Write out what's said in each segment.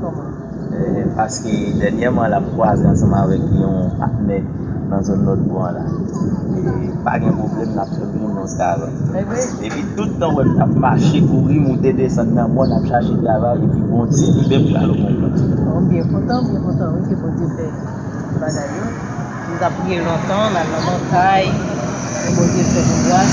Kòman? Paske dènyèman lap kwaze ansanm avèk yon patnè nan zòn lòt bò an la. E pa gen pwoblèm lap fè m jwenn yon travay. Epi tout tan wè m tap mache, kouri, moute, desann nan mòn ap chache travay epi Bondye li menm pral ou bon kont. Bon m byen kontan, m byen kontan wi ke Bondye fè bagay yo. M tap priye lontan, m al nan montay, men Bondye fè nou gras.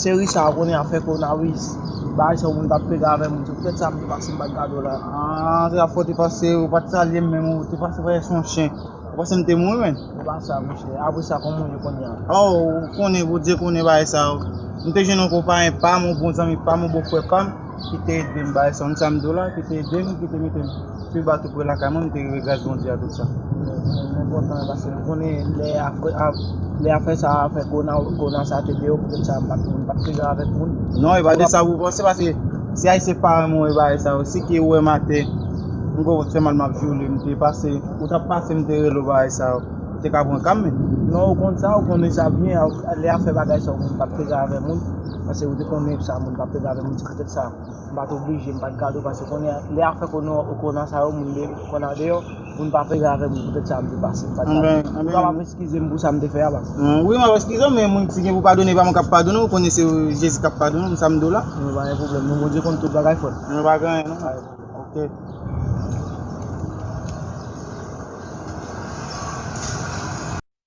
Seri sa konnen afè koronawis bagay sa moun tap pede avèm ou se poutèt sa m te pase m pat gadew la aah se la fwa ou te pase ou pat salyem menm ou te pase prèske son chen ou panse m te mouri menn se pa sa monchè apresa kòman ou ye kounya oh ou konnen Bondye konnen bagay sa yo m te jwenn yon konpayen pam yon bon zanmi pam yon bon frè pam. ki te ede m bay san sa m di w la, ki te ede m, ki te mete m pi ba tou pre lakay mwen, m te rive gras Bondye a tout sa. Mwen mwen kontan paske m konnen lè afè lè afè sa afè kona kona sa te de yo poutèt sa m pat m pat piga avèk moun. Non e pa de sa pou panse paske si ayisyen pa renmen w e bagay sa yo si ke ou wè m atè m kwè ou t fè mal m ap di w lè m te pase ou t ap pase m te rele w bagay sa yo ou te ka pran ka m men. Non ou konn sa ou konnen sa byen lè afè bagay sa yo m pat piga avèk moun. Pase ou te konnen sa moun tap pede avèm ou di petèt sa m pat oblije m pat gad'w pase konnen lè afè konnen ou konnen sa yo moun de konnen andeyò moun pa pede avèm ou petèt sa m te pase m pat gad'w ou kapab eskizem pou sa m te fè a pase. Wi map eskizew men moun ki gen pou padone pa mwen kap padone ou konnen se Jezi kap padone m sa m diw la. Bon pa gen pwoblèm non Bondye konn tout bagay frèm. Bon pa gen anyen non ok.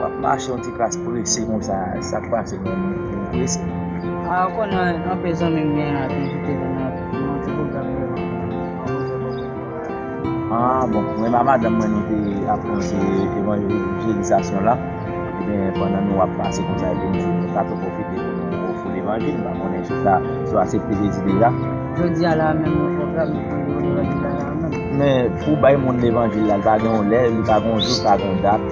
Wap mache yon ti kras prese konsa sak pase menm ou prese. A ou konnen anpil zanmi m gen ap envite m nan yon ti pwogram yo menm jan avèm an bon se kòman yo wè a. A bon mwen a madanm mwen nou te ap pwonche evanjelizasyon la ebyen pandan nou ap pase konsa ebyen nou di nou ta tou pwofite pou nou ofri levanjil m pa konnen si sa si w asepte Jezi deja. Jodi a la a menm yon pwogram yo fè yo levanjil la la a menm. Men pou w bay moun levanjil la li pa gen yon lè li pa gen yon jou li pa gen yon dat.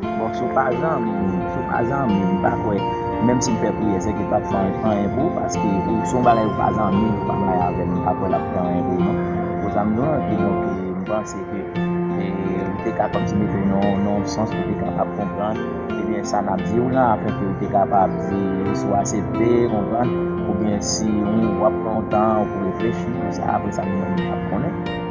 Bon si w pa zanmi m, si w pa zanmi m pa kwè menm si m fè priyè sèke l pap fè anyen pou w paske ou si w bagay ou pa zanmi m ou pa bay avè m m pa kwè lap fè anyen pou w non. Bon sa m di w lan ki bon ke m panse ke ou te ka kòmsi mete w nan yon sans pou te kapab konprann ebyen sa nap di w lan afin ke ou te kapab di si w asepte konprann oubyen si ou wap pran yon tan pou reflechi sou sa apresa nou menm nou pap konnen.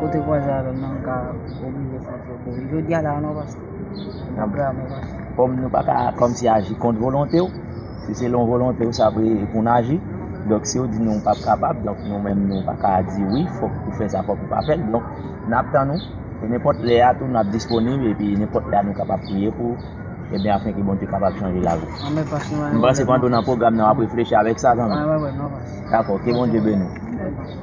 Kote vwazen avè m nan m ka oblije santi yo kouri. Jodi a la a non pastè. Apre a men pastè. Kòm nou pa ka kòmsi aji kont volonte w, si se lon volonte w sa vle pou n aji, donk si w di nou pa p kapab, donk nou menm nou pa ka di wi fòk ou fè sa fòk ou pa fè l. Donk n ap tann ou e nenpòt lè a tou n ap disponib epi nenpòt lè a nou kapab priye pou ou ebyen afin ke Bondye kapab chanje lavi w. Amen pastè. M panse pandan w nan pwogram nan w ap reflechi avèk sa zanmi m. Amen non pastè. Dakò, ke Bondye beni w.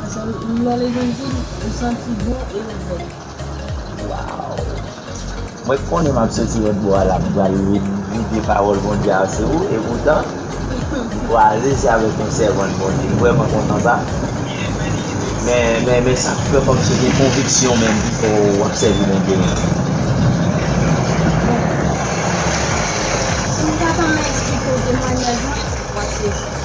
Paske lò levanjil ou santi bon e ou bèl. Waww mwen konnen map soti lòt bò a la m pral vide pawòl Bondye a sou ou e poutan m kwaze se avèk yon sèvant Bondye m vrèman kontan sa men sak fè kòm se gen konviksyon menm ki fè w ap sèvi Bondye menm. Bon si m ta tanmen esplike w temwanyaj mwen wap sezi.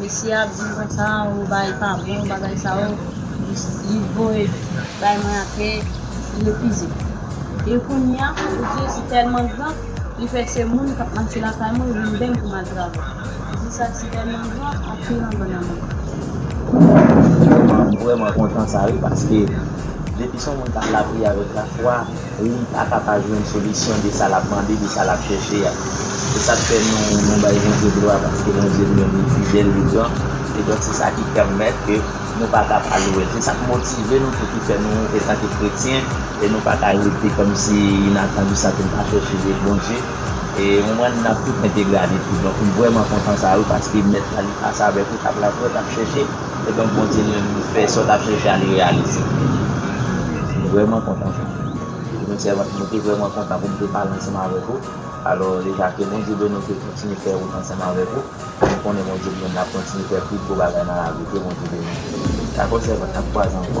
Mesye ap di m konsa ou bay pa bon bagay sa yo li voye bay mwen apre li refize e kounya ou di li tèlman gran li fè se moun kap mache lakay mwen vin bèm pou m al travay ou di sa ti tèlman gran anpil anba nan menl. Mwen vrèman kontan sa wi paske depi son moun kap lapriyè avèk lafwa. Moun paka pa jwenn solisyon de sa lap mande, de sa lap chèche a. Se sak fè nou nou bay Bondye glwa paske Bondye li menm li fidèl, li gran e donk se sa ki pèmèt ke nou paka pa louwe l. Se sak motive nou tou ki fè nou etanke kretyen e nou paka rete kòmsi inatandi san ke n pa chèche de Bondye e ou konprann nan tout entegralite. Donk m vrèman kontan sa wi paske Mèt la li pase avèk ou, tap laboure, tap chèche. Se donk Bondye nou menm nou fè sa w t ap chèche a li reyalize l. M vrèman kontan sa. Ou menm sèvant mwen te vrèman kontan pou m te pale ansanm avèk ou. Alò deja ke Bondye beni w ke l kontinye fè wout ansanm avèk ou. M konnen Bondye li menm l ap kontinye fè plis gwo bagay nan lavi w ke Bondye beni w. Dakò sèvant n ap kwaze ankò.